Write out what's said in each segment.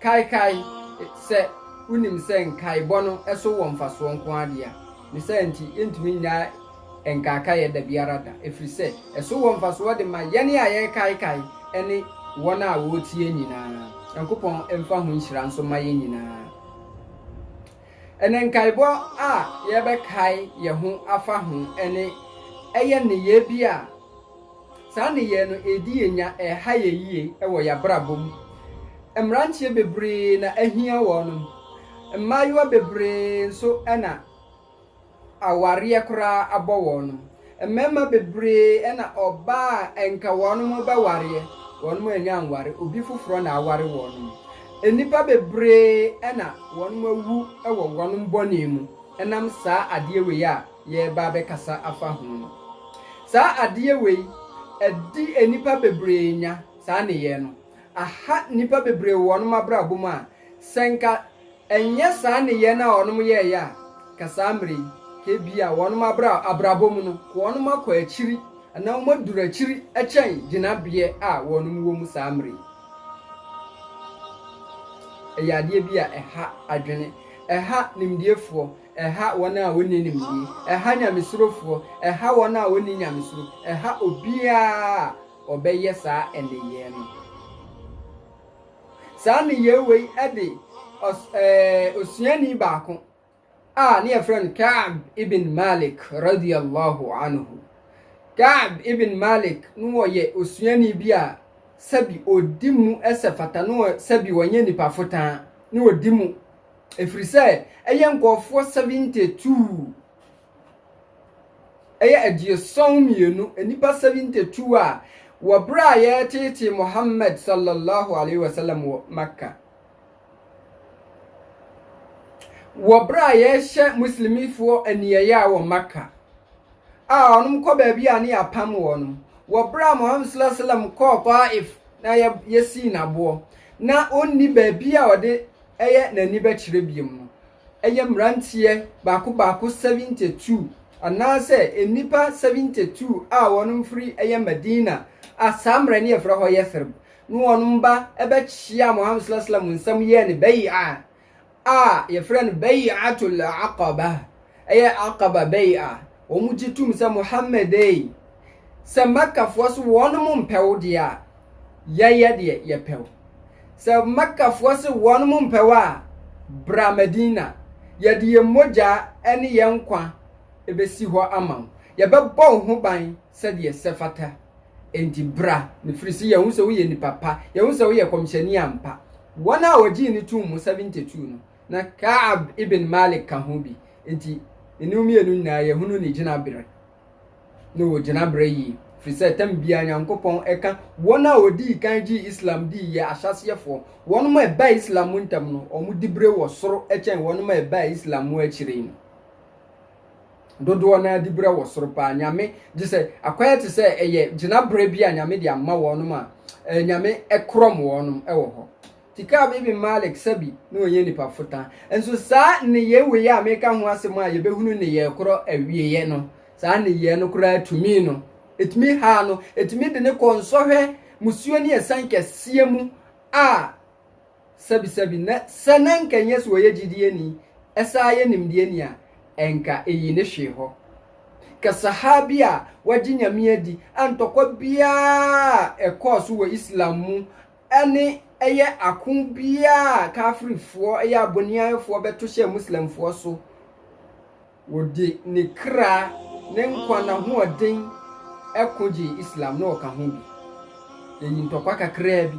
Kaekae, Sɛ wunim sɛ nkaebɔ no so wɔ mfasoɔ nko ara deɛ a, ne saa nti yɛntumi nnyae nkaekaeɛ da biara da, ɛfiri sɛ ɛso wɔ mfasoɔ de ma yɛn a yɛrekaekae ne wɔn a wɔretie nyinaa. Nyankopɔn mfa ho nhyira nso mma yɛn nyinaa. Ɛnnɛ nkaebɔ a yɛbɛkae yɛn ho afa ho ne ɛyɛ nneyɛɛ bi a Saa nneyɛɛ no ɛredi yɛn nya ɛreha yɛn yie wɔ yɛn abrabɔ mu. Mmeranteɛ bebree na ahia wɔn, mmaayewa bebree nso na awareɛ koraa abɔ wɔn. Mmarima bebree na ɔbaa a anka wɔn bɛwareɛ, wɔn annya anware, obi foforɔ na aware wɔn. Nnipa bebree na wɔn awu wɔ wɔn bɔne mu ɛnam saa adeɛ wei a yɛreba abɛkasa afa ho no. Saa adeɛ wei, ɛde nnipa bebree nya saa nneyɛɛ no. Aha nnipa bebree wɔ wɔnom abrabɔ mu a, sɛ nka ɛnyɛ saa nneyɛɛ no a wɔnom yɛɛeɛ a, nka saa mmerɛ yi, nka ebia wɔnom abra abrabɔ mu no, nka wɔnom akɔ akyiri anaa wɔn aduru akyiri kyɛn gyinabeɛ a wɔnom wɔ mu saa mmerɛ yi. Ɛyɛ adeɛ bi a ɛha adwene, ɛha nimdeɛfoɔ, Ɛha wɔn a wɔnni nimdeɛ. Ɛha nyamesurofoɔ. Ɛha wɔn a wɔnni nyamesuro. Ɛha obiara a ɔbɛyɛ saa nneyɛɛ no. Saa nneyɛɛ wei de ɔs, ɛɛ, osuani baako a ne yɛfrɛ no Ka'b ibn Malik radiyallahu anhu. Ka'b ibn Malik no wɔyɛ osuani bi a sɛbi ɔdi mu sɛ fata, no sɛbi wɔnyɛ nipa fotaa, no ɔdi mu. Ɛfiri sɛ ɛyɛ nkurɔfoɔ 72, ɛyɛ aduɔsɔn mmienu, nnipa 72 a wɔ berɛ a yɛreteetee Muhammad sallallahu alaihi wasallam wɔ Mecca. Wɔ berɛ a yɛrehyɛ Muslimifoɔ aniɛyaa wɔ Mecca, a wɔn kɔ baabi a ne yɛapam wɔn. Wɔ berɛ a Muhammad sallallahu alaihi wasallam kɔɔ Taif na yɛsii n'aboɔ, na ɔnni baabi a ɔde ɛyɛ n'ani bɛkyerɛ biom no, ɛyɛ mmeranteɛ baako baako 72 anaasɛ nnipa 72 a wɔnom firi ɛyɛ Madina a saa mmerɛ no yɛfrɛ hɔ Yathrib no wɔnom ba bɛkyeaa Muhammad sallallahu alaihi wasallam nsam yɛɛ no Bay'ah a yɛfrɛ no Bay'atul Aqabah Ɛyɛ Aqaba Bay'ah, wɔn gye tum sɛ Muhammad ei, sɛ Mɛkkafoɔ se wɔnom mpɛ wo deɛ a, yɛyɛ deɛ yɛpɛ wo. Sɛ Mɛkkafoɔ se wɔnom mpɛ wo a, bra Madina, yɛde yɛn mogyaa ne yɛn nkwa bɛsi hɔ ama wo, yɛbɛbɔ wo ho ban sɛdeɛ ɛsɛ fata. Enti bra, ɛfiri se yɛahu sɛ woyɛ nipa pa, yɛahu sɛ woyɛ kɔmhyɛni ampa. Wɔn a wɔgyee no tuum mu, 72 no, Na Ka'ab ibn Malik ka ho bi. Enti, ne no mmienu nyinaa yɛhunu ne gyinabre ne wɔ gyinabre yie. Firi sɛ tam biara Nyankopɔn ɛka wɔn a wɔdii kan gyee Islam dii yɛ ahyɛaseɛfoɔ. Wɔnom a ɛbaa Islam mu ntɛm no, wɔn dibre wɔ soro kyɛn wɔnom a ɛbaa Islam mu akyire yi no. Dodoɔ no ara dibre wɔ soro paa. Nyame, gyesɛ akwan te sɛ ɛyɛ gyinabre bi a Nyame de ama wɔnom a, Nyame korɔm wɔnom wɔ hɔ. Tikab ibn Malik Sabi na ɔnyɛ nipa fota. Nso saa nneyɛe wei a meka ho asɛm a yɛbɛhunu nneyɛe korɔ awieeɛ no, saa nneyɛe no koraa tumi no, ɛtumi haa no, ɛtumi de no kɔɔ nsɔhwɛ, musuo ne asiane kɛseɛ mu a Sabi Sabi na sɛ na nka nyɛ sɛ ɔyɛ gyidieni, ɛsaa yɛ nimdeɛni a, ɛnka ɛyi no hwee hɔ. Ka Sahaabi a wagye Nyame adi a ntɔkwa biara a ɛkɔɔ so wɔ Islam mu ne ɛyɛ ako biara a Kaafirfoɔ, ɛyɛ aboniayefoɔ, bɛto hyɛ Muslimfoɔ so. Wɔde ne kra, ne nkwa, n'ahoɔden ko gyee Islam, na ɔka ho bi. Yɛyi ntɔkwa kakraa bi.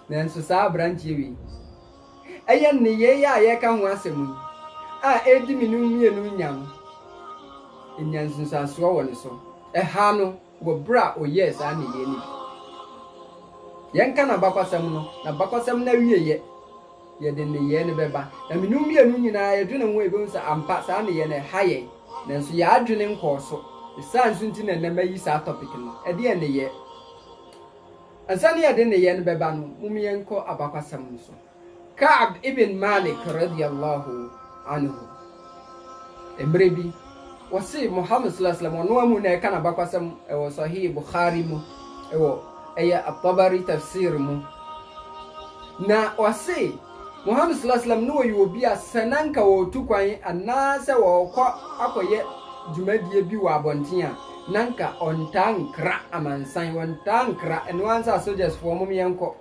Nanso saa aberanteɛ wei, ɛyɛ nneyɛeɛ a yɛreka ho asɛm yi a ɛredi me no mmienu nya no, ɛnya nsunsuansoɔ wɔ ne so. Ɛha no, wɔ bere a ɔyɛɛ saa nneyɛe no bi. Yɛnka n'abakɔsɛm no, n'abakɔsɛm no awieeɛ, yɛde nneyɛe no bɛba. Na me ne wo mmienu nyina ara yɛdwene ho a, yɛbɛhu sɛ ampa saa nneyɛe no ɛha yɛn. Nanso yɛn adwene nkɔɔ so. Ne saa nso nti na ɛnnɛ mayi saa topic no, Ɛdeɛn Nneyɛɛ? Ansa na yɛde nneyɛe no bɛba no, mom yɛnkɔ abakɔsɛm no so. Ka'b ibn Malik radiyya Allahu anhu, mmerɛ bi, ɔse Muhammad sallallahu alaihi wasallam, ɔno amu na ɛka n'abakwasɛm wɔ Sahih Bukhari mu, wɔ ɛyɛ At-Tabari Tafsir mu, na ɔse Muhammad sallallahu alaihi wasallam na ɔyɛ obi a sɛ na nka ɔretu kwan anaasɛ ɔrekɔ akɔyɛ dwumadie bi wɔ abɔnten a, na nka ɔntaa nkra amansan, ɔntaa nkra, ɛnoa ara nti a sogyasfoɔ mom yɛnkɔ.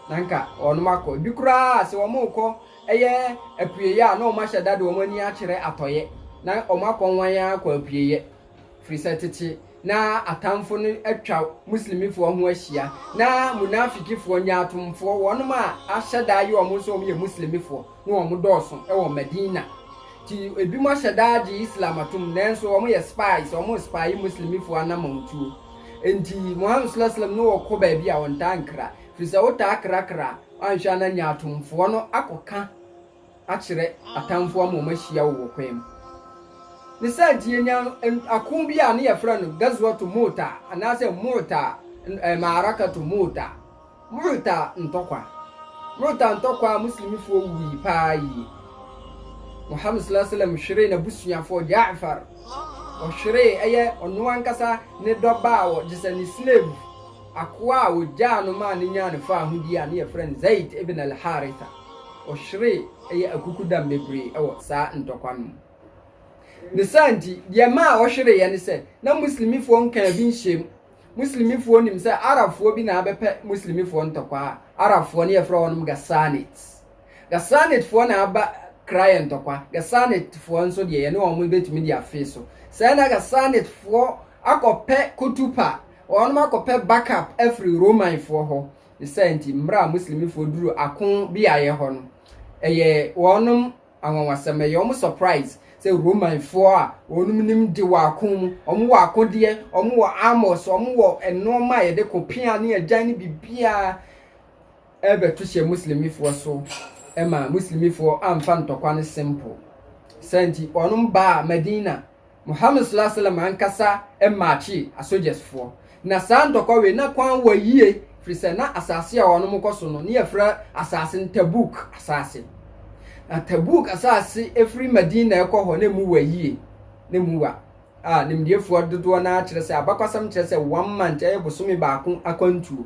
Na anka wɔnom akɔ. Ebi koraa a, se wɔnom rekɔ ɛyɛ apueeɛ a, na wɔnom ahyɛ da de wɔnom ani akyerɛ atɔeɛ. Na wɔnom akɔ nwan ara akɔ apueeɛ. Firi sɛ tete na atamfo no atwa Muslimifoɔ ho ahyia. Na Munafikifoɔ, nyaatwomfoɔ, wɔnom a ahyɛ da aye wɔnom sɛ wɔnom yɛ Muslimifoɔ, ne wɔn dɔɔso wɔ Madina. Nti ebinom ahyɛ da agye Islam atom, nanso wɔyɛ spies, wɔrespye Muslimifo anamɔntuo. Enti Muhammad swalla sallam ne wɔn kɔ baabi a wɔntaa nkra, firi sɛ wotaa krakra a, woanhwɛ a na nyaatwomfoɔ no akɔka akyerɛ atamfoɔ ama wɔahyia wo wɔ kwan mu. Ne saa nti yɛnya ako bi a ne yɛfrɛ no Ghazwatu Mu'ta anaasɛ Mu'ta, ɛɛ Ma'arakatu Mu'ta. Mu'ta ntɔkwa, Mu'ta ntɔkwa a Muslimifoɔ wuui paa yie. Muhammad sallallahu alaihi wasallam hweree n'abusuafoɔ Ja'far, ɔhweree ɛyɛ ɔno ankasa ne dɔba a wɔ gyesɛ ne slave, akoa a wɔgyaa no maa no nyaa ne faahodie a ne yɛfrɛ no Zaid ibn al-Haritha, ɔhweree ɛyɛ akukudam bebree ɛwɔ saa ntɔkwa no mu. Ne saa nti, deɛ ɛmaa ɔhwereeɛ ne sɛ, na Muslimifoɔ nkaa bi nhyɛm. Muslimifoɔ nim sɛ Arabfoɔ bi na abɛpɛ Muslimifoɔ ntɔkwa a Arabfoɔ ne yɛfrɛ wɔnom Ghassanit. Ghassanitfoɔ na aba kra yɛ ntɔkwa. Ghassanitfoɔ nso deɛ yɛne wɔn bɛtumi de afee so. Sɛ na Ghassanitfoɔ akɔpɛ kotupa, wɔnom akɔpɛ backup afiri Romanfoɔ hɔ. Ne saa nti, mmerɛ a Muslimifoɔ duru ako beaeɛ hɔ no, ɛyɛ wɔnom Anwanwasɛm ɛyɛ wɔn surprise sɛ Romanfoɔ a wɔn nim de wɔ ako mu, wɔn wɔ akodeɛ, wɔn wɔ armors, wɔn wɔ nnoɔma a yɛde ko pea ne agyan ne biribiara ɛrebɛto hyɛ Muslimifoɔ so ɛma Muslimifoɔ amfa ntɔkwa no simple. Saa nti wɔn baa Madina. Muhammad sallallahu alaihi wasallam ankasa mmakyee asogyasfoɔ. Na saa ntɔkɔwee na kwan wɔ yie firi sɛ na asaase a wɔnom kɔ so no ne yɛfrɛ asaase no Tabuk asaase. Na Tabuk asaase ɛfiri Madina ɛkɔ hɔ na ɛmu wɔ yie na ɛmu wa a nimdiefoɔ dodoɔ no ara kyerɛ sɛ abakɔsɛm kyerɛ sɛ one month ɛyɛ bosome baako akwantuo.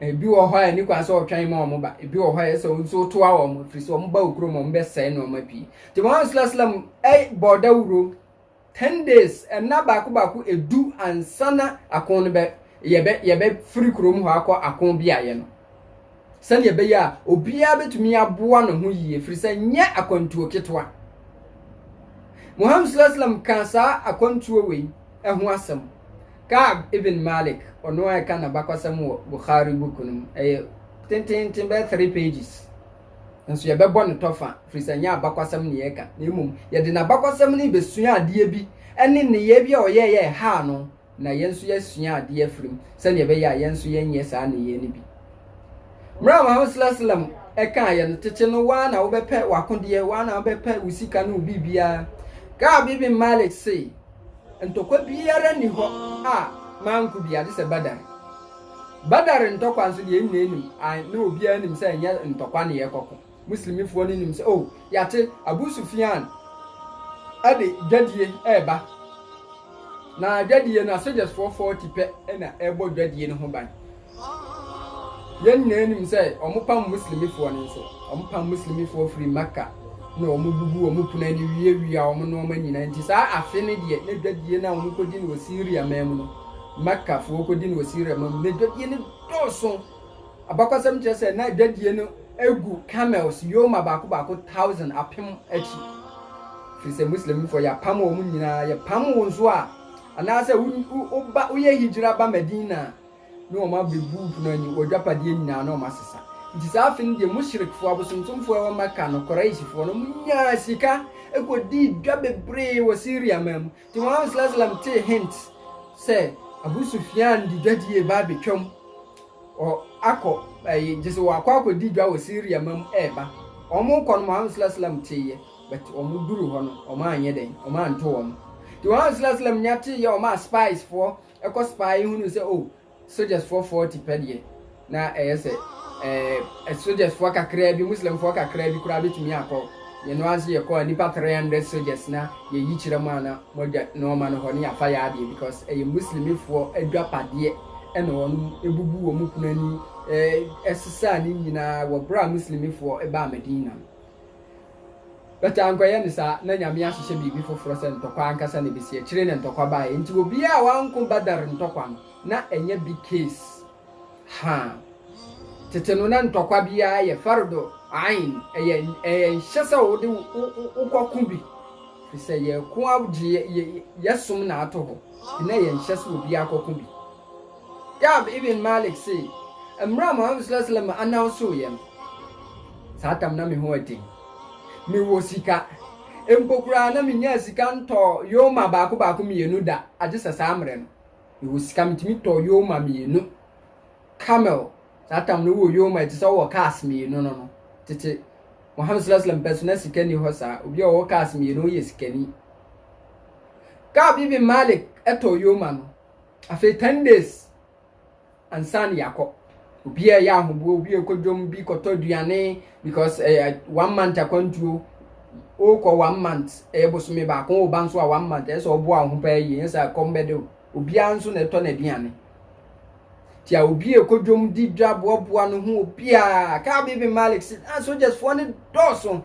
Ebi wɔ hɔ a ɛni kwan sɛ ɔtwɛn ma wɔn ba, ebi wɔ hɔ a ɛyɛ sɛ wɔn nso toa wɔn, ɛfiri sɛ wɔn ba wɔ kurom a wɔn bɛsɛe nneɛma pii. Nti Muhammad sallallahu alaihi wasallam ɛ bɔ dawuro ten days, ɛnna baako baako edu ansa na ako no bɛ yɛbɛ yɛbɛfiri kurom hɔ akɔ ako beaeɛ no. Sɛdeɛ ɛbɛyɛ a obiara bɛtumi aboa ne ho yie, ɛfiri sɛ nyɛ akwantuo ketewa. Muhammad sallallahu alaihi wasallam kaa saa akwantuo wei. ho asɛm. Ka'b ibn Malik, ɔno a ɛka n'abakɔsɛm wɔ Bukhari book no mu, ɛyɛ tenteenten bɛyɛ three pages. Nso yɛbɛbɔ no tɔfa, firi sɛ ɛnyɛ abakɔsɛm na yɛka, na mmom yɛde n'abakɔsɛm no bɛsua adeɛ bi ne nneyɛɛ bi a ɔyɛɛ yɛ ɛhaa no, na yɛn nso yɛasua adeɛ afiri mu, sɛdeɛ ɛbɛyɛ a yɛn nso yɛnyɛ saa nneyɛɛ no bi. Mmerɛ a Muhammad sallallahu alaihi wasallam ɛkaa yɛ no tete no, waa na wobɛpɛ w'akodeɛ, waa na wobɛpɛ wo sika ne wo biribiara. Ka'b ibn Malik se, Ntɔkwa biara nni hɔ a manko bi, agye sɛ Badar. Badar ntɔkwa nso deɛ yɛn nyinaa nim, ae, na obiara nim sɛ ɛnyɛ ntɔkwa na yɛkɔko. Muslimifoɔ no nim sɛ, oh, yɛate Abu Sufyan de dwadie reba, na dwadie no, asogyasfoɔ 40 pɛ na ɛrebɔ dwadie no ho ban. Yɛn nyinaa nim sɛ wɔpam Muslimifoɔ no nso. Wɔpam Muslimifoɔ firi Mecca na wɔbubu wɔn pono ani wiawia wɔn nnoɔma nyinaa. Nti saa afe no deɛ, na dwadie no a wɔkɔdi no wɔ Syria man mu no, Meccafoɔ kɔdi no wɔ Syria man mu, na dwadie no dɔɔso. Abakɔsɛm kyerɛ sɛ na dwadie no gu camels yoma baako baako thousand, apem, akyi. Firi sɛ Muslimifoɔ yɛapam wɔn nyinaa. Yɛpam wo nso a, anaasɛ woba woyɛ hijra ba Medina a, ne wɔn abere buup no ani, w'adwapadeɛ nyinaa na wɔn asesa. Nti saa afe no deɛ mushrikfoɔ, abosomsomfoɔ a ɛwɔ Mecca no, Quraishfoɔ no, wɔn nyaa sika kɔdii dwa bebree wɔ Syria man mu. Nti Muhammad sallallahu alaihi wasallam tee hint sɛ Abu Sufyan de dwadie reba abɛtwam, ɔ akɔ ɛyi gye sɛ wɔakɔ akɔdi dwa wɔ Syria man mu ɛreba. Wɔn rekɔ no Muhammad sallallahu alaihi wasallam teeɛ, but wɔn duru hɔ no wɔn anyɛ dɛn, wɔn anto wɔn. Nti Muhammad sallallahu alaihi wasallam nya teeɛ wɔn a spiesfoɔ Ɛkɔ so paa, yɛhunu sɛ oh, sogyasfoɔ 40 pɛ deɛ, na ɛyɛ sɛ eh, sogyasfoɔ kakraa bi, Muslimfoɔ kakraa bi koraa bɛtumi akɔ. Yɛno ara nso yɛkɔ a, nnipa 300 sogyas na yɛyi kyerɛ mu a na moadwa nɔɔma no hɔ ne yɛafa yɛ adeɛ because ɛyɛ Muslimifoɔ adwapadeɛ ɛna wɔn ɛbubu wɔn kunu ani eh, ɛsesaa ne nyinaa wɔ berɛ a Muslimifoɔ ɛbaa Medina no. But ankɔyɛ no saa, na Nyame ahyehyɛ biribi foforɔ sɛ ntɔkwa ankasa na ɛbɛsi akyire na ntɔkwa baeɛ, nti obiara a wanko Badar ntɔkwa no na ɛnyɛ big case, haa, tete no na ntɔkwa biara yɛ Fardhu Ayn, ɛyɛ ɛyɛ nhyɛ sɛ wode wo wo kɔ ko bi, firi sɛ yɛko agye yɛ yɛ yɛsom na ato hɔ, nti na ɛyɛ nhyɛ sɛ obiara kɔ ko bi. Ka'b ibn Malik se, Mmerɛ a Muhammad s.a.w announcoo yɛ no, saa tam na me ho yɛ den. Me wɔ sika, mpo koraa na me nyaa sika ntɔɔ yoma baako baako mmienu da, agye sɛ saa mmerɛ no, me wɔ sika metumi tɔɔ yoma mmienu, camel, saa tam no wowɔ yoma te sɛ wowɔ cars mmienu no no. Tete Muhammad s.a.w pɛ so na sika nni hɔ saa, obi a ɔwɔ cars mmienu ɔyɛ sikani. Ka'b ibn Malik tɔɔ yoma no. Afei ten days ansa na yɛakɔ. Obiara ɛyɛ ahoboɔ, obi ɛkɔ dwom, bi kɔtɔ aduane because ɛyɛ one month akwantuo. Wokɔ one month, ɛyɛ bosome baako, woba nso a one month, ɛyɛ sɛ ɔboa wo ho paa yie, ɛnyɛ sɛ ɛkɔm bɛde wo. Obiara nso na ɛtɔ n'aduane. Nti a obi ɛkɔ dwom di dwa boaboa no ho obiara. Kaa Bibi Malik si, na sogyasfoɔ no dɔɔso.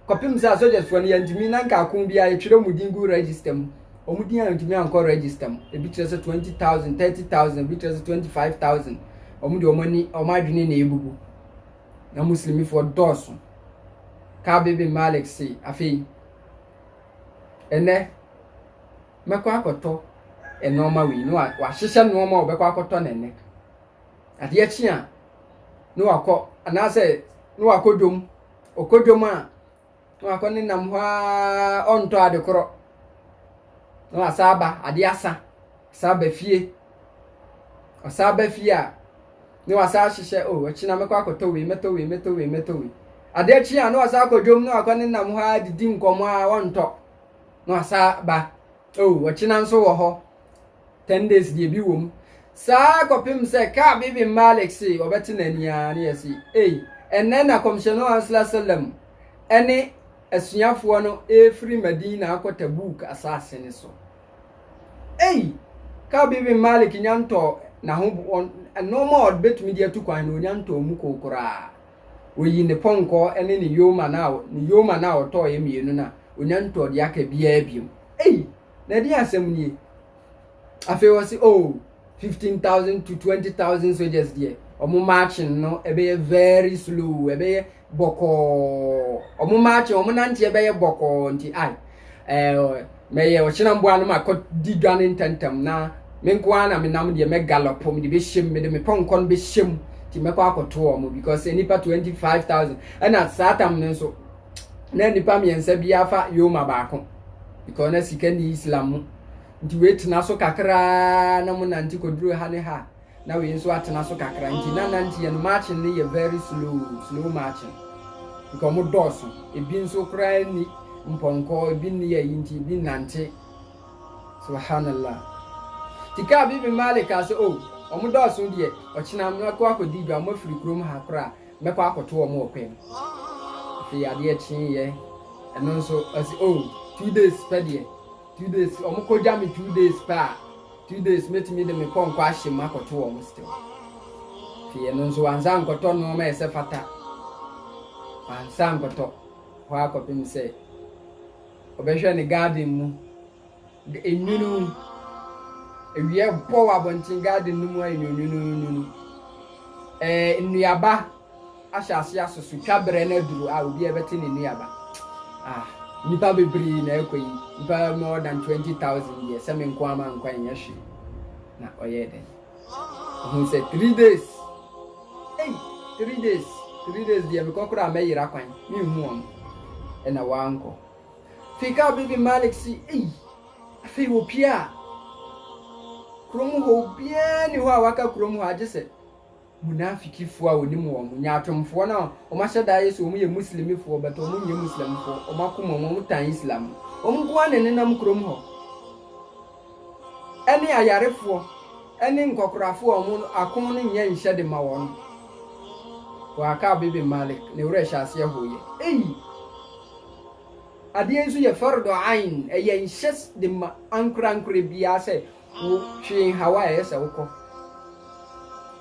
Kɔpem sɛ a sogyasfoɔ no yɛntumi na nka ako biara yɛtwerɛ wɔn din gu register mu. wɔn din antumi ankɔ register mu ebi kyerɛ sɛ twenty thousand thirty thousand ebi kyerɛ sɛ twenty five thousand wɔn de wɔn ani wɔn adwene na ebubu na muslimifoɔ dɔɔso kaabe bin malik se afei ɛnɛ mɛkɔ akɔtɔ nneɛma wei na wahyehyɛ nneɛma a wɔbɛkɔ akɔtɔ na ɛnɛ adeɛ kye a na wakɔ anaasɛ na wakɔ dwom ɔkɔ dwom a. na wakɔ ne nam hɔ ara ɔntɔ ade korɔ na wasan aba ade asa san aba fie ɔsan aba fie a na wasan ahyehyɛ o ɔkyena mɛkɔ akɔtɔ wei mɛtɔ wei mɛtɔ wei mɛtɔ wei ade akyi a na wasan akɔ dwom na wakɔ ne nam hɔ ara didi nkɔmɔ a ɔntɔ na wasan aba o ɔkyena nso wɔ hɔ. Ten days deɛ bi wɔ mu. Saa kɔpem sɛ Ka'b ibn Malik se ɔbɛte n'ani ara ne yɛse, Ei, ɛnnɛ na Kɔmhyɛni no Ɔsla Salam ne asuafoɔ no refiri Madina akɔ Tabuuk asaase no so. Ei, Ka'b ibn Malik nya ntɔɔ n'ahobo nnoɔma a ɔbɛtumi de atu kwan no ɔnya ntɔɔ mu koo koraa. Ɔyi ne pɔnkɔɔ ne ne yoma no a ne yoma no a ɔtɔɔeɛ mmienu no a ɔnya ntɔɔ deɛ aka biara biom. Ei! na ɛdeɛn asɛm nie afei wɔ se oh fifteen thousand to twenty thousand soldiers deɛ wɔn marching no ɛbɛyɛ very slow ɛbɛyɛ bɔkɔɔ wɔn marching wɔn nante ɛbɛyɛ bɔkɔɔ nti ai ɛɛ mɛyɛ ɔkyena mboa no ma kɔ di dwa ne ntɛntɛm na me nko ara na me nam deɛ mɛ gallop me de bɛ hyɛm me de me pɔnkɔ no bɛ hyɛm nti mɛkɔ akɔto wɔn because nipa twenty five thousand ɛna saa tam no nso. na nipa mmiɛnsa bi afa yoma baako because na sika ni islam mu nti wei tena so kakraa na mo nante kɔduru ha ne ha na wei nso atena so kakra nti na nante yɛ no marching no yɛ very slow slow marching because mo dɔɔso ebi nso koraa ni mpɔnkɔ ebi ni yɛ yi nti ebi nante subhanallah tika bi bi malik ase o oh, wɔn dɔɔso deɛ ɔkyena mmerɛ kɔ akɔdi dwa wɔn afiri kurom ha koraa mɛkɔ akɔto wɔn wɔ kwan mu. Afei adeɛ kyeeɛ, ɛno nso ɔsi oh two days pɛ deɛ, two days wɔn kɔ gya me two days pɛ a, two days mɛtumi de me pɔnkɔ ahyɛ mu akɔto wɔn still. Afei ɛno nso wansa nkɔtɔ nneɛma ɛsɛ fata, wansa nkɔtɔ hɔ akɔpem sɛ ɔbɛhwɛ ne garden mu De enwunu. Awia bɔ wɔ abɔnten garden no mu ayɛ no nwununwunu. Ɛɛ nnuaba ahyɛ ase asoso. Twa berɛ no aduru a obiara bɛte ne nnuaba. Ah, nnipa bebree na ɛkɔ yi. Nnipa more than 20,000 deɛ sɛ me nko ara mankɔ ɛnyɛ hwee. Na ɔyɛɛ dɛn? Ɔhu sɛ three days. Ei, three days, three days deɛ mekɔ koraa mɛyera kwan, menhu wɔn. Ɛna wankɔ. Fikaa Bibi Malik se, Ei! Afei wopiaa. Kurom hɔ obiara nni hɔ a waka kurom hɔ agye sɛ munafikifoɔ a wɔnim wɔn, nyaatwomfoɔ no a wɔahyɛ da ayɛ sɛ wɔyɛ Muslimifoɔ but wɔnyɛ Muslimfoɔ, wɔn akoma mu wɔtan Islam no. Wɔn nko ara na ɛnenam kurom hɔ. Ɛne ayarefoɔ ne nkɔkorafoɔ a wɔn ako no nyɛ nhyɛ de ma wɔn. Wɔ Akaab ibn Malik, ne werɛ hyɛaseɛ hoeɛ. Ei! Adeɛ nso yɛ fardu ayn, ɛyɛ nhyɛ de ma ankorankorɛ biara sɛ wo twe nhaw a ɛyɛ sɛ wo kɔ.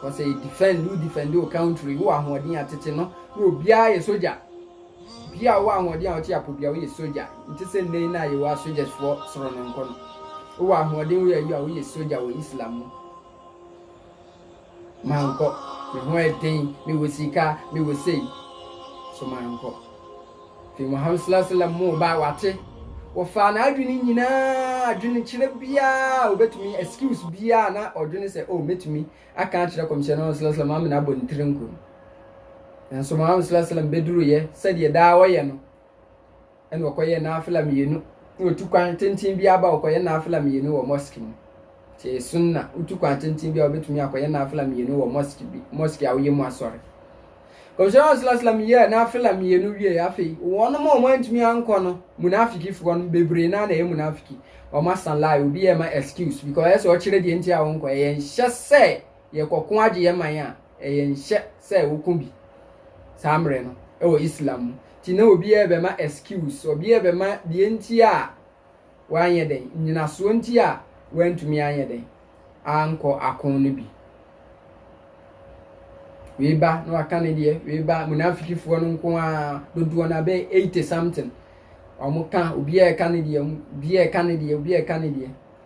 Kɔ sɛ yɛ defend, wo defend wo country, wo wɔ ahoɔden a tete no na obiara yɛ sogya. Bia a wo wɔ ahoɔden a wo te apo bia wo yɛ sogya. Nte sɛ nnɛ yi no a yɛ wɔ asogya's foɔ soro no nko no. Wo wɔ ahoɔden wo yɛ ayi a wo yɛ sogya wɔ Islam mu. Mankɔ, me ho yɛ den, me wɔ sika, me wɔ sei. So mankɔ? Afei Muhammad sallallahu alaihi wasallam moo ba, wate, wɔfaa n'adwene nyinaa, adwene kyerɛ biara a obetumi, excuse biara na ɔdwene sɛ, oh, metumi aka akyerɛ kɔmhyɛn no sallallahu alaihi wasallam, amena abɔ ne tiri nko. Nanso Muhammad sallallahu alaihi wasallam beduruyɛ sɛdeɛ daa ɔyɛ no. ɛna ɔkɔyɛ nafila mmienu na otu kwan tenten bi aba ɔkɔyɛ nafila mmienu wɔ mosque mu te sunna wotu kwan tenten bi a obetumi akɔyɛ nafila mmienu wɔ mosque bi mosque a woyɛ mu asɔre kɔmhyɛn asalasalam yɛ nafila mmienu wie afei wɔn mu a wɔn antumi ankɔ no munafikifoɔ no bebree naa na ɛyɛ munafiki wɔn asan lie obi yɛ ma excuse because ɛsɛ ɔkyerɛ deɛ nti a wɔn kɔ ɛyɛ nhyɛ sɛ Yɛkɔko ara gye yɛn man a, ɛyɛ nhyɛ sɛ woko bi saa mmerɛ no wɔ Islam mu. Nti na obiara bɛma excuse, obiara bɛma deɛ nti a wanyɛ dɛn, nnyinasoɔ nti a wantumi anyɛ dɛn, ankɔ ako no bi. Wei ba na waka ne deɛ, wei ba, munafikifoɔ no nko ara, dodoɔ no abɛyɛ 80 something, wɔka, obiara reka ne deɛ, obiara reka ne deɛ, obiara reka ne deɛ.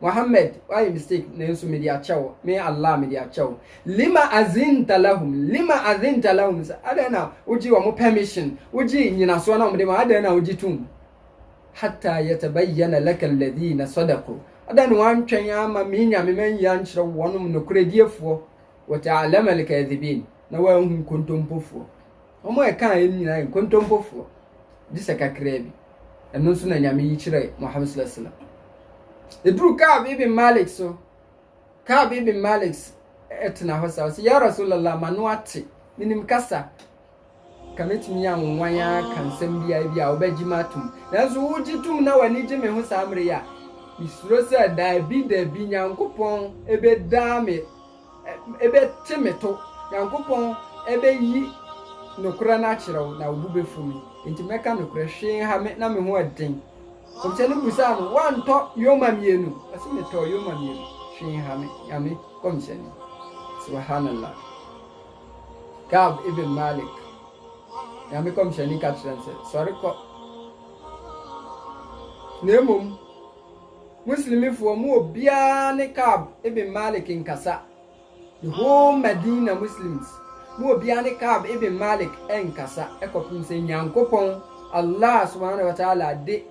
Mohammed wayɛ mistake nanso mede akyɛ wo, me Allah mede akyɛ wo. Lima azinta lahum, lima azinta lahum sɛ adɛn na wogye wɔn permission, wogye nyinasoɔ na wɔde ma adɛn na wogye tom. Hatta yatabayyana laka alladhina sadaku, adɛn na wantwɛn ama me nyame manyi ankyerɛ wo wɔnom nokorɛdiefoɔ, wa ta'alama alkadhibin, na woahu nkontompofoɔ. Wɔn a ɛkaa yɛn no nyinaa yɛ nkontompofoɔ, gye sɛ kakraa bi. Ɛno nso na Nyame yi kyerɛ Muhammad sallallahu alaihi wasallam. Ɛduru Ka'b ibn Malik so, Ka'b ibn Malik ɛtena hɔ saa, ɔsɛ, Ya Rasulallah, m'ano ate, menim kasa, ka mɛtumi anwonwan ara ka nsɛm biara bi a wobɛgye me atom. Nanso wogye tom na w'ani gye me ho saa mmerɛ yi a, mesuro sɛ daabi daabi Nyankopɔn ɛbɛdaa me Ebɛtse me to. Nyankopɔn bɛyi nokorɛ no akyerɛ wo, na wo bo bɛfu me. Enti mɛka nokorɛ. Hwee nha me, na me ho yɛ den. Nkɔmhyɛni bisaa no, Woantɔ yoma mmienu? Ɔse, Metɔɔ yoma mmienu. Hwee nha me, Nyame nkɔmhyɛni. Subhanallah. Ka'b ibn Malik, Nyame nkɔmhyɛni ka kyerɛɛ no sɛ, Sɔre kɔ. Na mmom. Muslimifoɔ mu obiara ne Ka'b ibn Malik nkasa. The whole Madina Muslims mu obiara ne Ka'b ibn Malik nkasa kɔpem sɛ Nyankopɔn, Allah subhaanahu wa ta'aala, de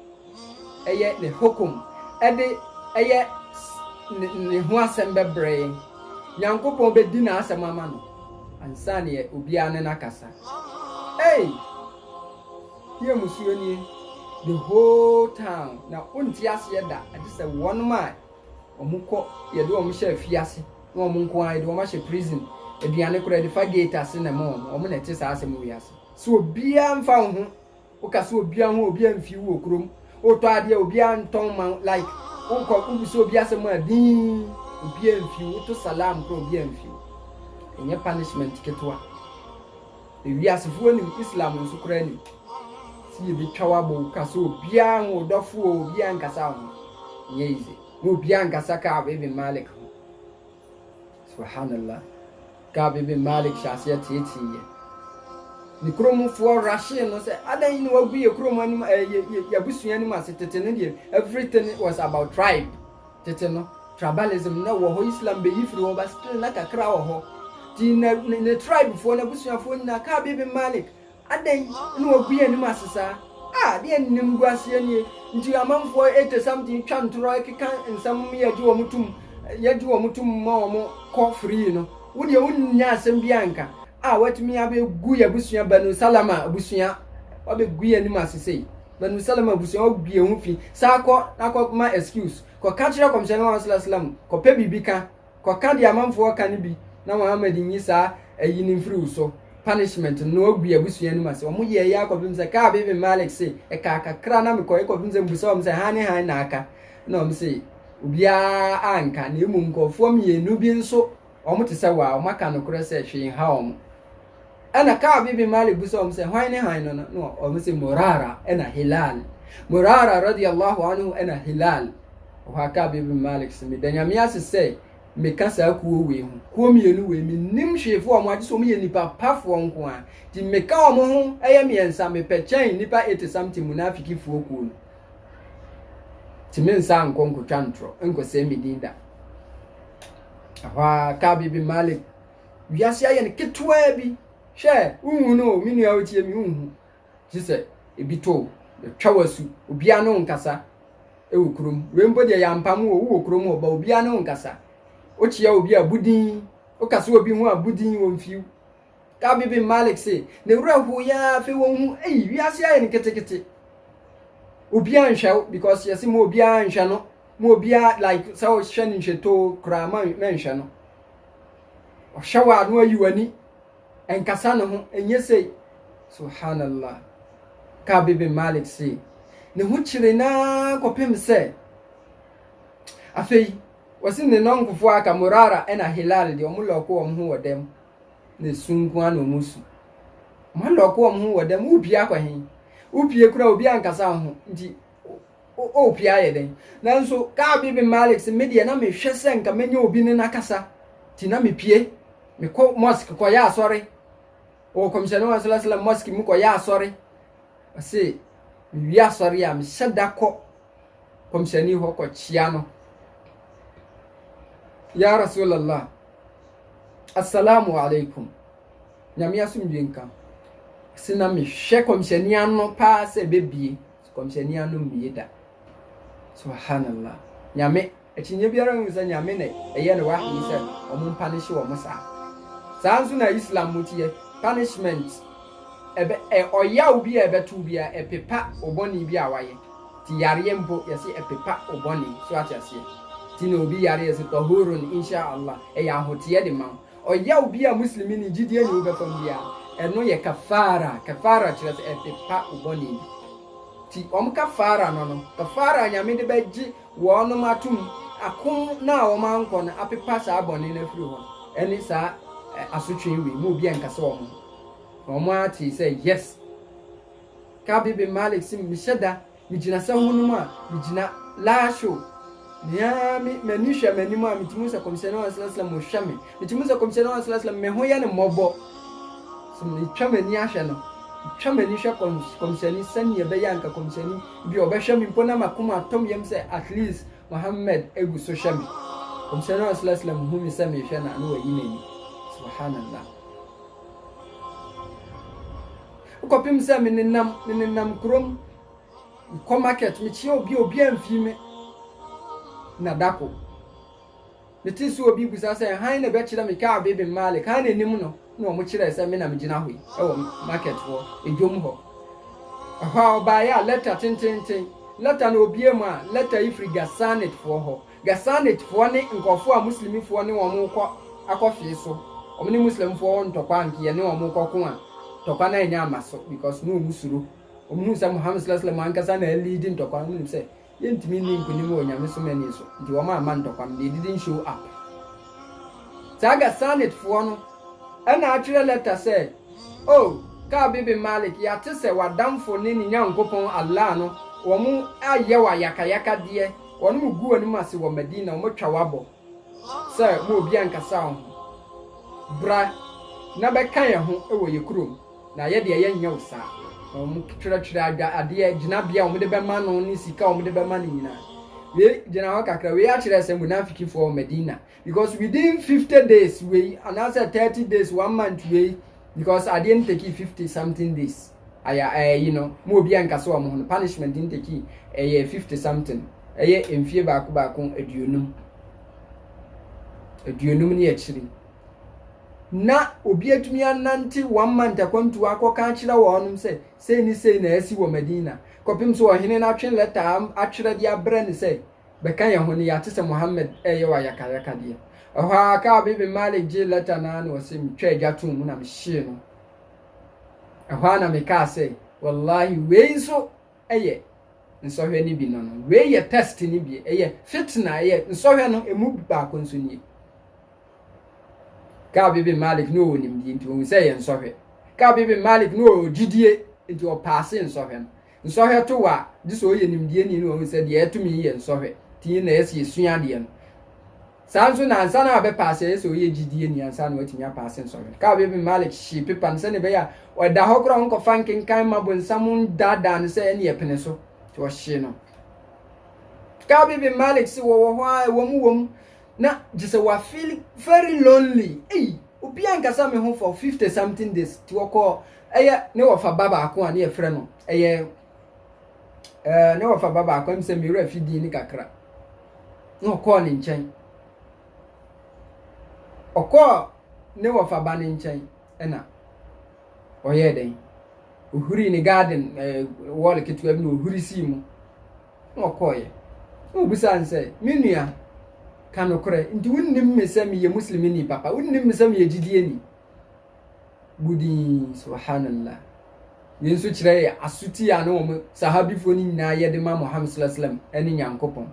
ɛyɛ Ne Hukum, ɛde ɛyɛ Ne Ne ho asɛm bɛbrɛ yɛn. Nyankopɔn bɛdi N'asɛm ama no ansa na obiara ne no akasa. Ei! Yɛ mmusuo nie the whole town na wonte aseɛ da agye sɛ wɔnom a wɔn kɔ yɛde wɔn hyɛ afiase ne wɔn nko ara yɛde wɔn ahyɛ prison aduane koraa yɛde fa gate ase na ɛma wɔn wɔn na ɛte saa asɛm wiase sɛ obiara mfa wo ho woka sɛ obiara ho a obiara mfi wo wɔ kurom wotɔ adeɛ a obiara ntɔn ma wo like wokɔ wobisa obi asɛm a dinn obiara mfi wo woto salam koraa obiara mfi wo ɛnyɛ punishment ketewa. Ewiasefo anim, Islam nso koraa anim. Sɛ yebetwa w'abɔ wo ka sɛ obiara ho, wo dɔfo o, obiara nkasa wo ho. Ɛnyɛ easy. Na obiara nkasa Ka'b ibn Malik ho. Subhanallah. Ka'b ibn Malik hyɛ aseɛ teetee yɛ. Ne kuromfoɔ rahyee no sɛ, adɛn na wagu yɛ kurom anim, ɛɛ, yɛ, yɛ, yɛ abusua anim ase. Tete no deɛ, everything was about tribe. Tete no, tribalism na ɔwɔ hɔ, Islam beyi firi hɔ but still na kakra wɔ hɔ. Nti na ne, ne tribefoɔ, n'abusuafoɔ nyinaa, Ka'b ibn Malik, adɛn na wagu yɛn anim ase saa? Ah, adeɛ a nnim gu aseɛ nie. Nti amanfoɔ 80 something twa ntorɔ keka nsɛm ma yɛgye wɔn tom, yɛgye wɔn tom ma wɔn kɔ free no. Wo deɛ wonnya asɛm biara nka. Ah, watumi abɛgu yɛn abusua Banu Salama abusua, wabɛgu yɛn anim ase sei. Banu Salama abusua hɔ gui ho fi, san kɔ na kɔ ma excuse, kɔ ka kyerɛ Kɔmhyɛni Muhammad Sallallahu Alaihi Wasallam, kɔ pɛ biribi ka, kɔ ka deɛ amanfoɔ ka no bi na Muhammad nyi saa ayi no mfiri wo so, punishment, no na wagui abusua no mu ase. Wɔn yɛɛyɛ ara kɔpem sɛ Ka'ab ibn Malik se, ɛkaa kakra na mekɔeɛ kɔpem sɛ mebisaa wɔn sɛ hann ne hann na aka? Ɛna wɔn se, obiara anka, na mmom nkorɔfoɔ mmienu bi nso Wɔte sɛ wo a wɔaka nokorɛ sɛ hwee nha wɔn. Ɛna Ka'b ibn Malik bisa wɔn sɛ, Hwan ne hann no? Na wɔn se, Murara ɛna Hilal. Murara radiya Allahu anhu ɛna Hilal. Ɛhɔ ara Ka'b ibn Malik se, Meda Nyame ase sɛ meka saa kuo wei ho. Kuo mmienu wei, mennim hwee fa wɔn agye sɛ wɔyɛ nnipa pa foɔ nko ara. Nti meka wɔn ho ɛyɛ mmiɛnsa, mepɛ kyɛn nnipa eighty something munafiki foɔ kuo no. Nti mensan nkɔ nkɔtwa ntorɔ, nkɔsɛe me din da. ɛhɔ ara Ka'b ibn Malik wiase ayɛ no ketewaa bi hwɛ wohu no o me nua wotie me wohu gye sɛ ebi to o yɛtwa wasu obiara ne wo nkasa ɛwɔ kurom wei mpo deɛ yɛampam wɔ wowɔ kurom hɔ ba obiara ne wo nkasa wokyea obi a budin wokasa obi ho a budin wɔmfiw Gabi bin Malik se, Ne werɛ howee ara afei wɔhuu, ei, wiase ayɛ no ketekete. Obiara nhwɛ wo because yɛse ma obiara nhwɛ no, ma obiara like sɛ ɔhwɛ no nhwɛtoo koraa ma nhwɛ no. Ɔhwɛ wo a no ayi w'ani, ɛnkasa ne ho, ɛnyɛ sei. Subhanallah. Gabi bin Malik se, ne ho kyere no ara kɔpem sɛ afei wɔse ne nɔnkofoɔ aka Murara ɛna Hilal deɛ wɔn lɔɔko wɔn ho wɔ dɛm ne su nko ara na wɔn su. Wɔn alɔko wɔn ho wɔ dɛm, wopie akɔ he? Wopie koraa obi ankasa wo ho nti wopie ayɛ dɛn? Nanso Ka'b ibn Malik se, me deɛ na mehwɛ sɛ nka mɛnya obi ne no akasa nti na mepie mekɔ mosque kɔyɛ asɔre wɔ kɔmhyɛne wa sala sala mosque mu kɔyɛ asɔre ɔse mewie asɔre a mehyɛ da kɔ kɔmhyɛni hɔ kɔkyea no ya rasulallah assalamu alaikum nyame asomdwe nka se na mehwɛ kɔmhyɛni ano paa sɛ bɛbie kɔmhyɛni ano mmie da subhanallah nyame Akyinnye biara nni ho sɛ Nyame na ɛyɛ no wahyi sɛ wɔmpanishe wɔn saa. Saa ara nso na Islam mu teɛ, punishment, ɛbɛ, ɛ, ɔyaw bi a ɛbɛto wo biara, ɛpepa wo bɔne bi a woayɛ. Nti yareɛ mpo, yɛse ɛpepa wo bɔne. So woate aseɛ? Nti na obi yare a yɛse, Tahurun, Insha Allah, ɛyɛ ahoteɛ de ma wo. Ɔyaw bi a Muslimini, gyidieni, wo bɛfa mu biara, ɛno yɛ kafaarah. Kafaarah kyerɛ sɛ ɛpepa wo bɔne bi. Nti wɔn kafaarah no no, kafaarah a Nyame de bɛgye Wɔnom atom akom no a wɔn ankɔ no apepa saa bɔne no afiri hɔ ɛne saa asotwee wei mu obi ɛnkasa wɔn ho na wɔn ara tee sɛ yes Ka'b ibn Malik se mehyɛ da megyina sɛ honom a megyina laahyow nea me m'ani hwɛ m'anim a metumi hu sɛ kɔmhyɛne wɔn asalasala mu hwɛ me metumi hu sɛ kɔmhyɛne wɔn asalasala mu me ho yɛ ne mmɔbɔ so metwa m'ani ahwɛ no metwa m'ani hwɛ kɔmhyɛne sɛnea ɛbɛyɛ anka kɔmhyɛne Ebia ɔbɛhwɛ me mpo na m'akoma atɔ me yam sɛ at least Muhammad gu so hwɛ me. Nkɔmhyɛni no sallallahu alaihi wasallam hu me sɛ merehwɛ no a na wayi n'ani. Subhanallah. Kɔpem sɛ menenam menenam kurom mekɔ market mekyia obi a obiara mfii me. Nadako. Metee sɛ obi rebisa sɛ, Hann na ɛbɛkyerɛ me kaa Bibim Malik? Hann anim no na wɔkyerɛɛ sɛ me na megyina hɔ yi wɔ market hɔ, dwom hɔ. Ɛhɔ a ɔbaeɛ a, lɛta tententen, lɛta na ɔbue mu a, lɛta yi firi Ghassanidfoɔ hɔ. Ghassanidfoɔ ne nkurɔfoɔ a Muslimifoɔ ne wɔn rekɔ akɔfee so. Wɔn ne Muslimfoɔ wɔ ntɔkwa a nka yɛne wɔn rekɔko a, ntɔkwa no annya amma so because na wɔsuro. Wɔhunu sɛ Muhammad, sallalahu alayhi wa sallam, ankasa na aliidi ntɔkwa no, wɔnim sɛ Yɛntumi nni nkonim wɔ nyamesom ani so nti wɔn amma ntɔkwa no they didn't show up. Saa Ghassanid foɔ no ɛna atwerɛ lɛta sɛ, Oh Ka'b ibn Malik yɛate sɛ w'adamfo ne ne Nyankopɔn Allah no wɔn ayɛ wo ayakayakadeɛ, wɔnom gu w'anim ase wɔ Madina, wɔn atwa wo abɔ sɛ mo obiara nkasaa wo ho, bra na bɛka yɛn ho wɔ yɛn kurom. na yɛ deɛ yɛnyɛ wo saa. Na wɔtwerɛtwerɛ adwa adeɛ gyinabea a wɔde bɛma no ne sika a wɔde bɛma no nyinaa. Wei gyina hɔ kakra, wei akyerɛ sɛ munafikifoɔ wɔ Medina because within 50 days wei anaasɛ 30 days one month wei because adeɛ no tekii 50 something days aya ɛyi eh, no mu obi anka sɛ wɔn ho no punishment no tekii ɛyɛ eh, 50 something ɛyɛ eh, mfie baako baako aduonum aduonum ne akyiri. na obi atumi anante wɔn manta kwantuo akɔka akyerɛ wɔnom sɛ, sei ne sei na asi wɔ Madina, kɔpem sɛ ɔhene no atwe lɛta atwerɛ de abrɛ no sɛ, bɛka yɛn ho no yɛate sɛ Muhammad reyɛ wo ayakayakadeɛ. Ɛhɔ ara Ka'b ibn Malik gyee lɛta no ara na ɔse, metwaa gya too mu na mehyee no. Ɛhɔ ara na mekaa sɛ, Wallahi wei nso yɛ nsɔhwɛ no bi no no, wei yɛ test no bi, ɛyɛ fitna, ɛyɛ nsɔhwɛ no ɛmu baako nso nie. Ka'b ibn Malik na ɔwɔ nimdeɛ nti ɔhu sɛ ɛyɛ nsɔhwɛ. Ka'b ibn Malik na ɔwɔ gyidie nti ɔpaase nsɔhwɛ no. Nsɔhwɛ to wo a, gye sɛ ɔyɛ nimdeɛni na ɔhu sɛ deɛ ɛto me yi yɛ nsɔhwɛ nti na ɛyɛ sɛ yɛsua adeɛ no. Saa nso na ansa na wabɛpaase ɛyɛ sɛ ɔyɛ gyidieni ansa na watumi apaase nsɔhwɛ. Ka'b ibn Malik hyee pepa no sɛdeɛ ɛbɛyɛ a ɔda hɔ koraa ɔnkɔfa nkenkan mma bonsam nnaadaa no sɛ ɛnne ɛpene so nti ɔhyee no. Ka'b ibn Malik se wɔwɔ hɔ ara ɛwɔ mu wɔ mu Na gyesɛ wa feel very lonely ei obiaa nkasa me ho for 50 something days ti ɔkɔ ɛyɛ ne wɔfa ba baako a ne yɛfrɛ no ɛyɛ ɛɛ ne wɔfa ba baako ɛm sɛ mewura fi din ne kakra na ɔkɔɔ ne nkyɛn ɔkɔɔ ne wɔfa ba ne nkyɛn ɛna ɔyɛɛ dɛn ohuri ne garden ɛɛ wɔl ketewa bi na ohuri sii mu. na ɔkɔeɛ. Na ɔbisaa no sɛ, Me nua, ka nokorɛ, nti wonnim me sɛ meyɛ Muslimini papa, wonnim me sɛ meyɛ gyidieni? Bu din, subhanallah. Wei nso kyerɛ yɛ asuti a na wɔn sahabifoɔ no nyinaa yɛ de ma Muhammad sallallahu alaihi wasallam ne Nyankopɔn.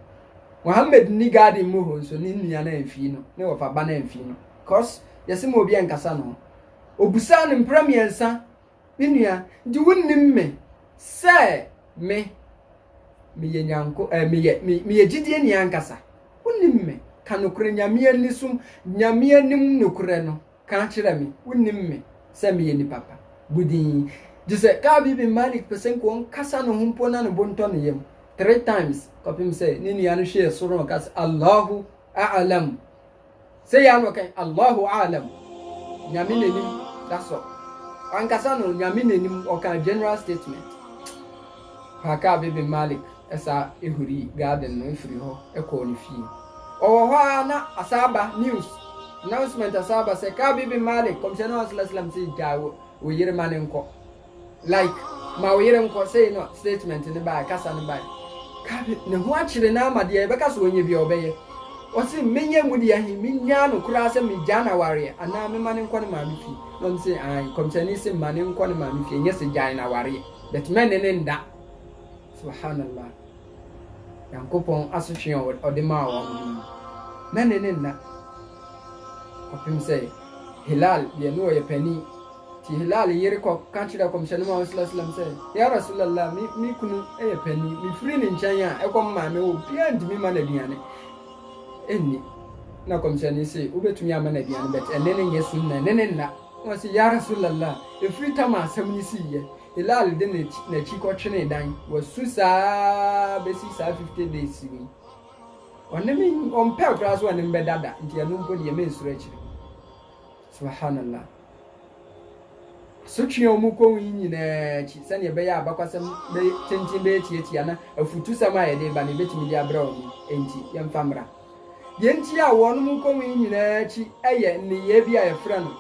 Muhammad nni garden mu hɔ nso ne nua no amfii no, ne ɔfa ba no amfii no. Cause yɛse ma obi nkasa no ho. Ɔbisaa no mprɛ mmiɛnsa. Me nua, nti wonnim me sɛ me, meyɛ Nyanko, eh, meyɛ, me, meyɛ gyidie ni ankasa. Wonnim me. Ka nokorɛ Nyame ani som, Nyame anim nokorɛ no. Ka kyerɛ me. Wonnim me sɛ meyɛ nipa pa. Bu din. Gye sɛ Ka'ab ibn Malik pɛ sɛ nka ɔnkasa ne ho mpo na ne bo ntɔ ne yam. Three times, kɔpem sɛ ne nua no hwɛɛ soro na ɔka sɛ, Allahu a'alam. Sɛ yɛ ano kɛn Allahu a'alam, Nyame n'anim da sɔ. Ankasa no Nyame n'anim ɔkaa general statement paa Ka'b ibn Malik saa ehuri garden no firi hɔ kɔɔ ne fie. Ɔwɔ hɔ ara na asan aba news, announcement asan aba sɛ Ka'b ibn Malik, Kɔmhyɛni Muhammad sallallahu alaihi wasallam se gyae wo yere ma ne nkɔ. Like ma wo yere nkɔ, sei na statement no bae, kasa no bae. Ka bi, ne ho akyere no ara ma deɛ yɛbɛka sɛ ɔnyɛ biara ɔbɛyɛ. Ɔse, menyɛ emu deɛ he, mennyaa no koraa sɛ megyaa no awareɛ anaa mema no nkɔ ne maame fie? Na ɔno se, aane, Nkɔmhyɛni se ma no nkɔ ne maame fie, nyɛ sɛ gyae no awareɛ, but mɛne no nda. Subhaanallah. Nyankopɔn asotwee a ɔde maa wɔn no ni. Mɛne no nna kɔpem sɛ Hilaal deɛ ne ɔyɛ panin. Nti Hilaal yere kɔ ka kyerɛɛ Kɔmhyɛne Muhammad sallallahu alaihi wasallam sɛ, Ya Rasulallah, me me kunu yɛ panyin, mifiri ne nkyɛn a, ɛkɔm mmaa me, obiara ntumi mma no aduane nni. Na Kɔmhyɛne se, wobɛtumi ama no aduane, but ɛne no nyɛ sunna, ɛne no nna. Na ɔse, Ya Rasulallah, ɛfiri tam a asɛm no siiɛ. Hilaal de n'akyi kɔtwenee dan, wasu saa ara bɛsi saa 50 days yi. Ɔne me, ɔmpɛɛ koraa sɛ ɔne me bɛda da, nti ɛno mpo deɛ mensuro akyire. Subhanallah. Asotwe a wɔkɔ ho yi nyinaa akyi, sɛnea ɛbɛyɛ a abakwasɛm tenten bɛyɛ tiatia na afutusɛm a yɛde reba no, yebetumi de abrɛ wɔn nti, yɛmfa mmra. Deɛ enti a wɔnom rekɔ ho yi nyinaa akyi yɛ nneyɛe bi a yɛfrɛ no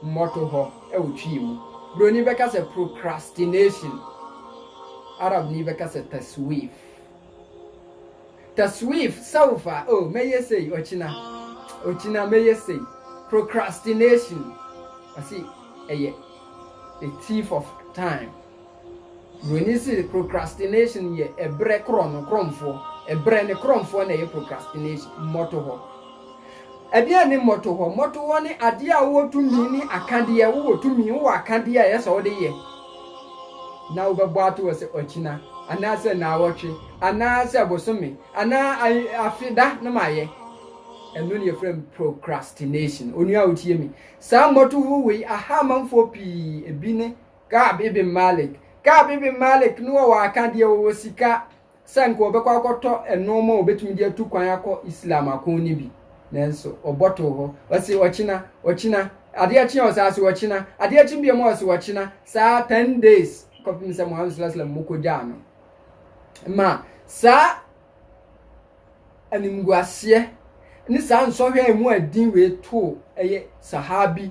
mmɔtohɔ wɔ Twi mu. Buroni bɛka sɛ procrastination, Arabni bɛka sɛ taswif. Ta swiif self a oh mɛyɛ sei ɔkyena ɔkyena mɛyɛ sei procrastination ɔsi ɛyɛ a thief of time buroni si procrastination yɛ ɛbrɛ korɔ no korɔmfoɔ ɛbrɛ ne korɔmfoɔ na ɛyɛ procrastination mmɔto hɔ ɛdeɛ ne mmɔto hɔ mmɔto hɔ ne adeɛ a wowɔ tumi ne akadeɛ wowɔ tumi wowɔ akadeɛ a ɛyɛ sɛ wode yɛ na wobɛbɔ ato hɔ sɛ ɔkyena anaasɛ nnaawɔtwe anaasɛ bosome anaa afe da na mayɛ. Ɛno ne yɛfrɛ no procrastination. Onua a wotie me, saa mmɔtoho wei aha amanfoɔ pii. Ebi ne Ka'ab ibn Malik. Ka'ab ibn Malik no wɔwɔ akadeɛ, wɔwɔ sika. sɛ anka ɔbɛkɔ akɔtɔ nnoɔma a ɔbɛtumi de atu kwan akɔ Islam ako no bi, nanso ɔbɔ too hɔ. Ɔse ɔkyena, ɔkyena, adeɛ kye a ɔsaa se ɔkyena, adeɛ kye biom a ɔse ɔkyena, saa 10 days kɔpem sɛ Muhammad sallallahu alaihi wasallam mokɔgyaa no. Ma saa animguaseɛ ne saa nsɔhwɛ a ɛmu ɛden wei too ɛyɛ Sahabi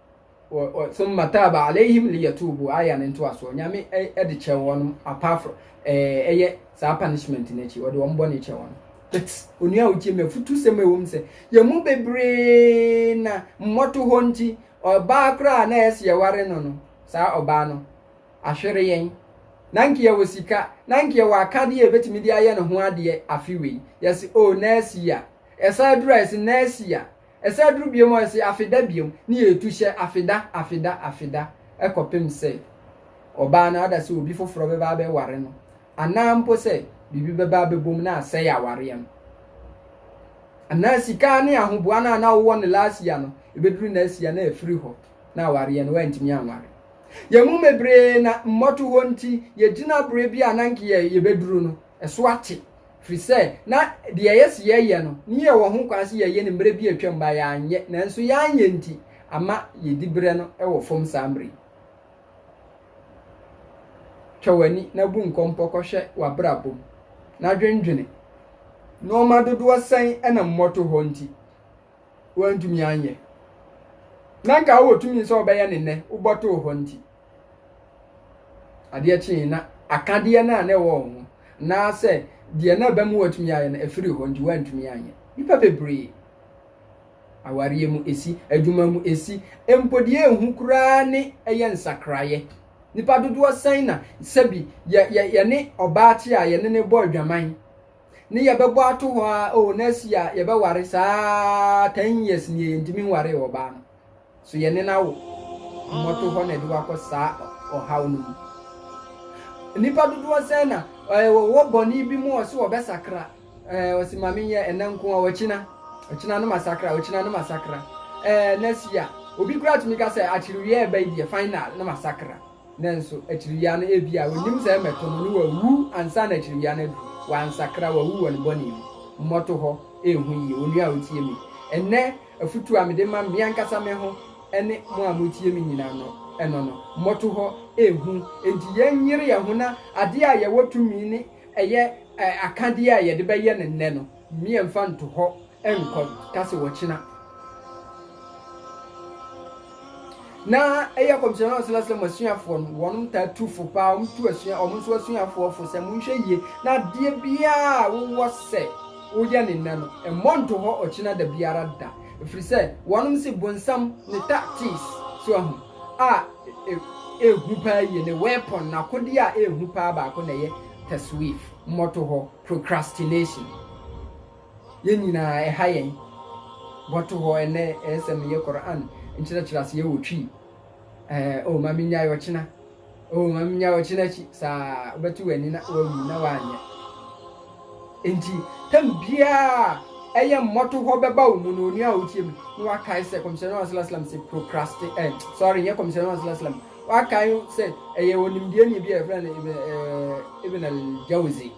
summa taaba alayhim liyatubu aya no ntoasoɔ nyame de kyɛ wɔn apart from ɛyɛ saa punishment no akyi ɔde wɔn bɔne kyɛ wɔn but onua otie me afutu sɛm ɛwɔ mu sɛ yɛn mu bebree na mmɔto hɔ nti ɔbaa koraa na ɛsɛ yɛware no no saa ɔbaa no ahwere yɛn na nka yɛwɔ sika na nka yɛwɔ akadeɛ a yɛbɛtumi de ayɛ ne ho adeɛ afe wei yɛse o oh, nɛɛsi a ɛsan aduru a yɛse nɛɛsi a Ɛsɛ aduru biom hɔ ɛse afeda biom ne yɛ tu hyɛ afeda afeda afeda ɛkɔpem sɛ ɔbaa no ada sɛ obi foforɔ bɛba abɛ ware no anaa mpo sɛ biribi bɛba abɛbom na asɛe awareɛ no anaa sika ne ahoboa no a na wowɔ no last year no ɛbɛduru next year na afiri hɔ na awareɛ no wantumi anware. Yɛn mu bebree na mmɔtohɔ nti yɛgyina berɛ bi a na nka yɛbɛduru no ɛso ate Ɛfiri sɛ, na deɛ yɛse yɛyɛ no, ne yɛwɔ ho kwan sɛ yɛyɛ no mmerɛ bi a atwam ma yɛanyɛ, nanso yɛanyɛ nti ama yɛdi berɛ no wɔ fam saa mmerɛ yi. Twa w'ani na bu nkɔmpɔ kɔhwɛ w'abrabɔ mu na dwendwene. Nnoɔma dodoɔ sɛn na mmɔtohɔ nti woantumi anyɛ, na nka wowɔ tumi sɛ wobɛyɛ no nnɛ, wobɔtoo hɔ nti? Adeɛ kyee na akadeɛ no a na ɛwɔ wɔn ho anaasɛ deɛ na ɛbɛma wɔatumi ayɛ no ɛfiri hɔ nti wɔantumi anyɛ. Nnipa bebree, awareɛ mu ɛsi, adwuma mu ɛsi, mpo deɛ ɛhu koraa ne ɛyɛ nsakraeɛ. Nnipa dodoɔ sɛn na sɛbi yɛne ɔbaakye a yɛne ne bɔ adwaman ne yɛbɛbɔ ato hɔ a, o na asi a yɛbɛware saa 10 years nie yɛntumi nwaree ɔbaa no. So yɛne no awo mmɔtohɔ na ɛde wo akɔ saa ɔhaw no mu? Nnipa dodoɔ sɛn na eh, wɔwɔ bɔne bi mu ɔse wɔbɛsakra eh, ɔse ma menyɛ ɛnɛ nko a ɔkyina ɔkyina no masakra ɔkyina no masakra eh, next year obi kura tumi ka sɛ akyiriwia ɛba yi deɛ final no masakra nanso akyiriwia no ebi a onim sɛ ɛmɛto no ne wawu ansa na akyiriwia no adu wansakra wawu wɔ ne bɔne mu mmɔtohɔ ɛhu yie onua a otie mi ɛnɛ Afotu a mede ma me ankasa me ho ne mo a moretie me nyinaa no, ɛno no, mmɔto hɔ, ɛhu nti yɛnyere yɛn ho na adeɛ a yɛwɔ tumi ne ɛyɛ akadeɛ a yɛde bɛyɛ no nnɛ no, meɛmfa nto hɔ nkɔ ka sɛ ɔkyena. Na ɛyɛ kɔmhyɛn no ɔsrɛ sɛ mo asuafoɔ no, wɔnom taa tu fo paa, wɔn tu asua, wɔn nso asuafoɔ fo sɛ monhwɛ yie na adeɛ biara a wowɔ sɛ woyɛ ne nnɛ no, mmɔ nto hɔ ɔkyena da biara da, ɛfiri sɛ wɔnom se bonsam ne tactics, so ahu, a ɛhu paa yie, ne weapon, n'akodeɛ a ɛhu paa baako na ɛyɛ taswif, mmɔtohɔ, procrastination. Yɛn nyinaa ɛha yɛn bɔto hɔ ɛnnɛ ɛyɛ sɛ meyɛ Qur'an nkyerɛkyerɛ aseɛ wɔ Twi ɛɛ oh ma mennyae ɔkyena oh ma mennyae ɔkyena akyi saa wobɛte w'ani na woawu na woanyɛ enti tam biara ɛyɛ mmɔto hɔ bɛba wo mu no onua a wotie me na wakae sɛ kɔmhyɛne wa sala salam sɛ procrasti eh, sorry nyɛ kɔmhyɛne wa sala salam wakae sɛ ɛyɛ onimdeɛ ne bi a yɛfrɛ no ibn al-jawzi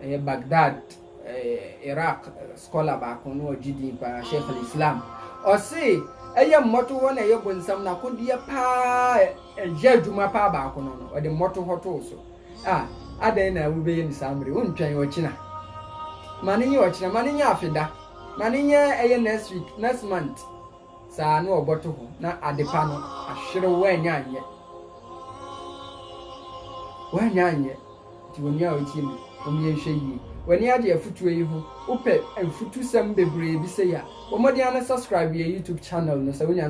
Ɛyɛ Baghdad, eh, Iraq scholar baako na ɔgye din paa, Sheikh al-Islam. Ɔse, ɛyɛ mmɔtohɔ na ɛyɛ bonsam n'akodeɛ paa ɛyɛ adwuma paa baako no no, ɔde mmɔtohɔ too so. A, adɛn na wobɛyɛ no saa mmere? Wontwɛn ɔkyena. Ma no nyɛ ɔkyena, ma no nyɛ afeda, ma no nyɛ ɛyɛ next week, next month. Saa na ɔbɔto hɔ na adepa no ahwere woanyɛ anyɛ. Woanyɛ anyɛ. Nti onua a otie me, mom yɛnhwɛ yie. W'ani agye afutuo yi ho? Wopɛ afutusɛm bebree bi sei a, bɔ mmɔden ara na subscribe yɛn YouTube channel no sɛ wonya.